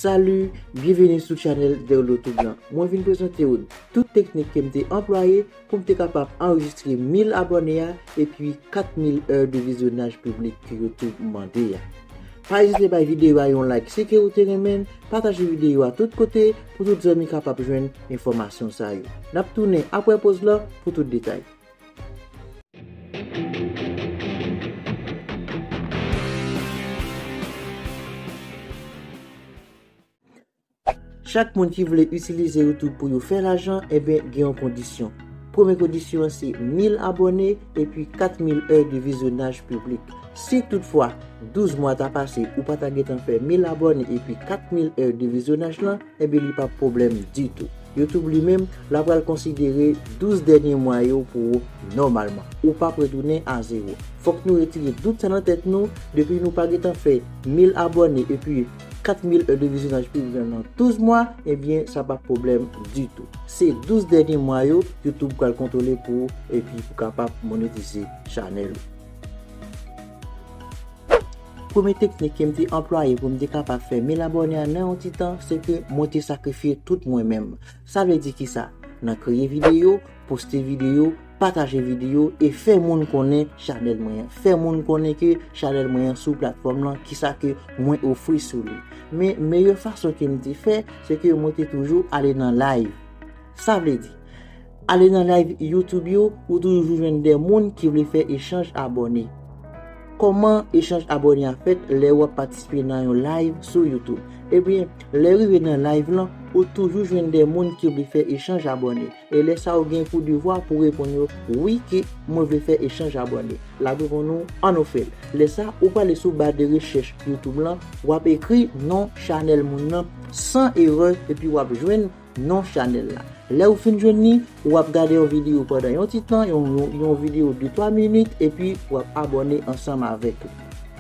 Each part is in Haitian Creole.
Salut, byenveni sou chanèl Derlotube lan. Mwen vin prezante ou tout teknik ke m te anplwaye pou m te kapab anrejistre 1000 abòne a epi 4000 è de vizyonaj piblik ke Youtube mande a. Pa ezite bay videyo a yon like si ke ou te renmen l, pataje videyo a tout kote pou tout zanmi kapab jwenn enfòmasyon sa yo. N ap tounen apre poz lan pou tout detay. Chak moun ki vle itilize YouTube pou yo fè lajan, eben eh gen yon kondisyon. Premye kondisyon an se 1000 abone epi 4000 è de vizyonaj piblik. Si tout fwa 12 mwa ta pase ou pa ta gen tan fè 1000 abone epi 4000 è de vizyonaj lan, eben li pa pwoblèm ditou. YouTube li menm, la pral konsidere 12 dènye mwa yo pou ou nòmalman. Ou pap retounen a zewo. Fòk nou retire dout sa nan tèt nou, depi nou pa gentan fè 1000 abòne epi 4000 è de vizyonaj pi gran nan 12 mwa, ebyen sa pa pwoblèm ditou. Se 12 dènye mwa yo YouTube pral kontwole pou ou epi pou kapab monetize chanèl ou. Premye teknik ke m te anplwaye pou m te kapab fè 1000 abòne an nan yon ti tan, se ke mwen te sakrifye tout mwen menm. Sa vle di kisa? Nan kreye videyo, poste videyo, pataje videyo e fè moun konnen chanèl mwen an. Fè moun konnen ke chanèl mwen an sou platfòm lan, kisa ke mwen ofri sou li. Men, meyè fason ke m te fè, se ke mwen te toujou ale nan live. Sa vle di, Ale nan live YouTube yo ou toujou jwenn de moun ki vle fè echanj abòne. Kòman echanj abòne a fèt lè ou ap patisipe nan yon live sou YouTube? Ebyen, lè rive nan live lan, ou toujou jwenn de moun ki vle fè echanj abòne. E lè sa ou gen pou devwa pou reponn yo wi ke mwen vle fè echanj abòne. Lap reponn ou an nou fèl. Lè sa ou prale sou ba de rechèch YouTube lan, wap ekri non chanèl moun nan san erè epi wap jwenn Non chanèl la. Lè ou fin jwenn li, ou ap gade yon videyo pandan yon ti tan, yon videyo de 3 minit, epi ou ap abòne ansanm avèk li.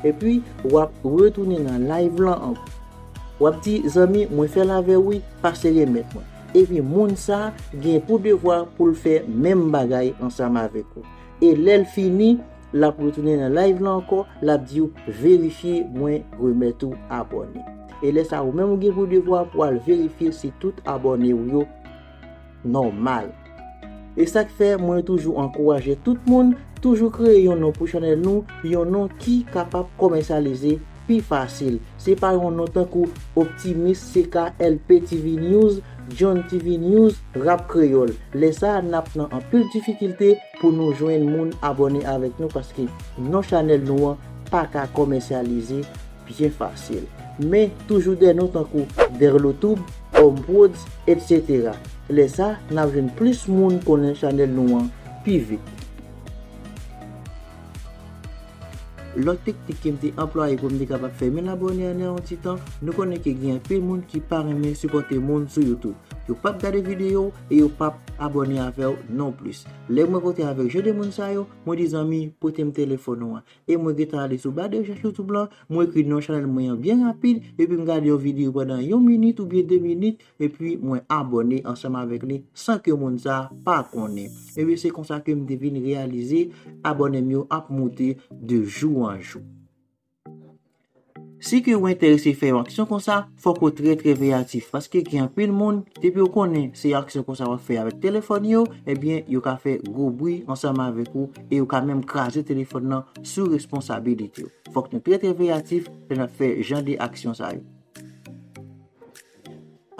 Epi, ou ap retounen nan live lan ankò. Ou ap di, zanmi, mwen fè l avè ou wi, pase remèt mwen. Epi moun sa gen pou devwa pou l fè menm bagay ansanm avèk ou. E lè l fini, Lap retounen nan live la ankò lap diw verifye mwen remèt ou abòne. E lè sa ou menm ou gen pou devwa pou al verifye si tout abòne ou yo nòmal. E sak fè mwen toujou ankouraje tout moun toujou kreye yon non pou chanèl nou, yon non ki kapab komèsyalize pi fasil. Se pa yon non tankou Optimis, CKLP TV News, John TV News, Rap Kreyòl. Lè sa nap nan anpil difikilte. Pou nou jwenn moun abòne avèk nou paske non chanèl nou an paka komèsyalize byen fasil. Men toujou dè non tankou Derlotoub, Omprods etc. Lè sa nap jwenn plis moun konnen chanèl nou an pi vit. Lòt teknik kem te anplwaye poum te kapab fè mil abòne an yon ti tan, nou konnen ke gen anpil moun ki pa renmen sipòte moun sou youtube. Yo pap gade videyow, e yo pap abòne avèw non plis lè mwen kontre avèk jan de moun sa yo mwen di zanmi potem telefòn ou an e mwen gentan ale sou ba de rechèch youtube lan mwen ekri non chanèl mwen an byen rapid epim gade yon video pandan yon minit oubyen 2 minit epi mwen abòne ansanm avèk li san ke moun sa pa konnen ebyen se konsa kem te vin reyalize abònem yo ap moute de jou an jou. Si ke ou enterese fè yon aksyon konsa, fòk ou trè trè veyatif, paske gen anpil moun, depi yo konnen se aksyon konsa wap fè avèk telefòn yo, ebyen yo ka fè gwo bri ansanm avèk ou, e yo ka menm kraze telefòn nan sou responsabilite ou. Fòk nou trè trè veyatif lè nap fè jan de aksyon sa yo.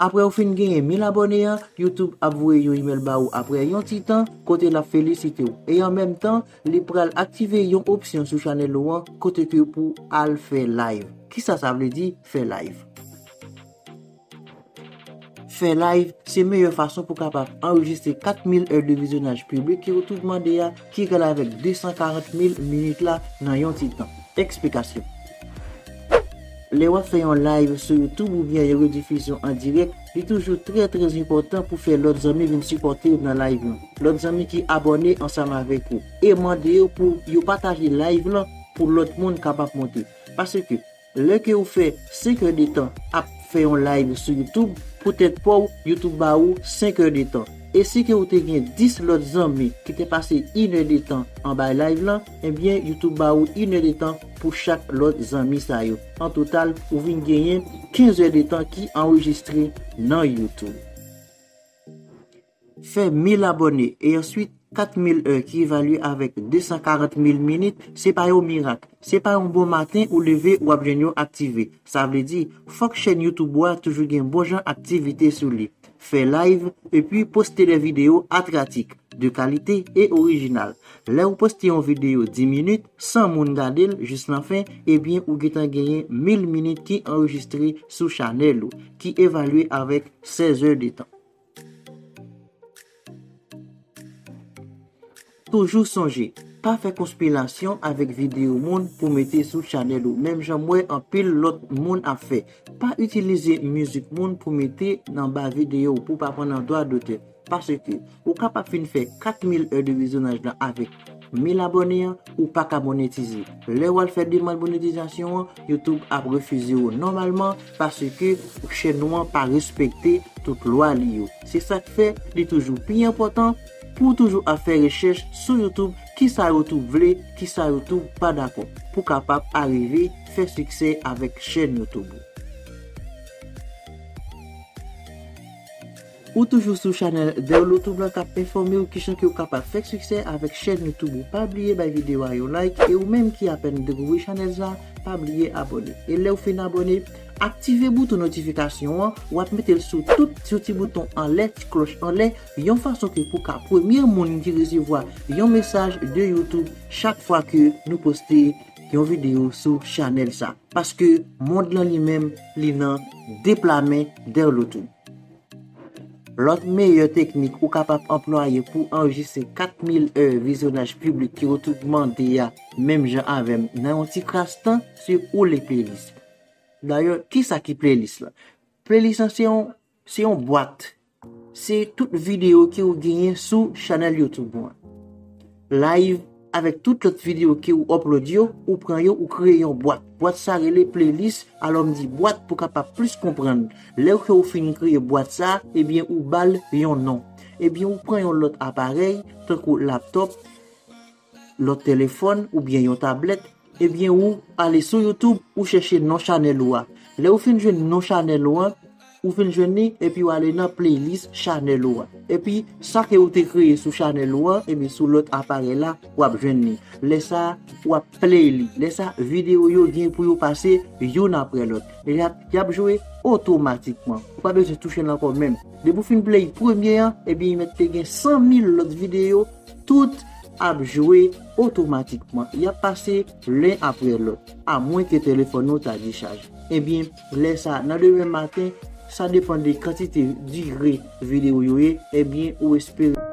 Aprè ou fin genyen 1000 abòne an, YouTube ap voye yon imèl ba ou aprè yon ti tan kote l ap felisite w e an menm tan li pral aktive yon opsyon sou chanèl ou an kote ke pou al fè live. Kisa sa vle di fè live? Fè live se meyè fason pou kapab anrejistre 4000 è de vizyonaj piblik ke ou tout mande a Ki egal avèk 240 mil minit la nan yon ti tan. Eksplikasyon. Lè wap fè yon live sou youtube oubyen yon redifizyon an dirèk, li toujou trè trè enpòtan pou fè lòt zanmi vin sipòtew nan live lan. Lòt zanmi ki abòne ansanm avèk ou. E mande yo pou yo pataje live lan pou lòt moun kapab monte. Paske. Lè ke ou fè 5 heures de tan ap fè yon live sou youtube pou tèt paw youtube ba ou 5 heures de tan e si ke ou te gen 10 lòt zanmi ki te pase yn heure de tan anba live lan ebyen youtube ba ou yn heure de tan pou chak lòt zanmi sa yo an total ou vin genyen 15 heures de tan ki anrejistre nan youtube. Fè 1000 abòne e answit 4000 è ki evalye avèk 240 mil minit se pa yon mirak, se pa yon bon maten ou leve wap jwenn yo aktive. Sa vle di, fòk chèn YouTube ou a toujou gen bon jan aktivite sou li. Fè live epi poste de videyo atratik, de kalite e orijinal. Lè ou poste yon videyo 10 minit, 100 moun gade l jis nan fen, ebyen ou gentan genyen 1000 minit ki anrejistre sou chanèl ou, ki evalye avèk 16 è de tan. Toujou sonje, pa fè konspilasyon avèk videyo moun pou mete sou chanèl ou menm jan m wè anpil lòt moun ap fè. Pa itilize mizik moun pou mete nan ba videyo w pou w pa pran nan dwa dotè. Paske, ou kapab fin fè 4 mil è de vizyonaj lan avèk. 1000 abòne an ou paka monetize lè wal fè demand monetizasyon an YouTube ap refize ou nòmalman paske chèn ou an pa respekte tout lwa li yo se sak fè li toujou pi enpòtan pouw toujou ap fè rechèch sou YouTube kisa YouTube vle kisa YouTube pa dakò pou kapab arive fè siksè avèk chèn YouTube ou. Ou toujou sou chanèl Derloutube lan kap enfòmew kijan ke ou kapab fèk siksè avèk chèn youtube ou pa bliye bay video a yon like e ou menm ki apèn dekouvri chanèlz la pa bliye abòne e lèw fin abòne aktive bouton notifikasyon an wap metel sou tout sou ti bouton anlè ti klòch anlè yon fason ke pou ka premye moun ki resevwa yon mesaj de youtube chak fwa ke nou poste yon video sou chanèl sa paske mond lan li menm li nan de pla men Derloutube. Lòt meyè teknik ou kapab anplwaye pou anrejistre 4000 è vizyonaj piblik ki ou tout mande a menm jan avèm nan yon ti kras tan si ou li playlist. Dayè kisa ki playlist la? Playlist lan se yon se yon bwat se tout videyo ki ou genyen sou chanèl youtube ou an. Live. Avèk tout lòt video ke ou upload yo, ou pran yo ou kreye yon bwat. Bwat sa rele playlist, alò m di bwat pou kapab plis konprann. Lè ke ou fin kreye bwat sa, ebyen ou bal yon non. Ebyen ou pran yon lòt aparèy, tankou laptop, lòt telefòn oubyen yon tablèt, Ebyen ou ale sou youtube ou chèche non chanèl ou a lèw fin jwenn non chanèl ou an ou fin jwenn li epiw ale nan playlist chanèl ou a epi sa ke ou te kreye sou chanèl ou an ebyen sou lòt aparèy la wap jwenn li lè sa wap play li lè sa video yo gen pou yo pase youn aprè lòt yap jwe otomatikman ou pa bezwen touche l ankò menm depi ou fin play premye an ebyen mèt te gen 100 mil lòt video tout ap jwe otomatikman yap pase len apre lòt a mwen ke telefòn ou ta dechaj ebyen lè sa nan demen maten sa depan de kantite dire video yo ye ebyen ou espere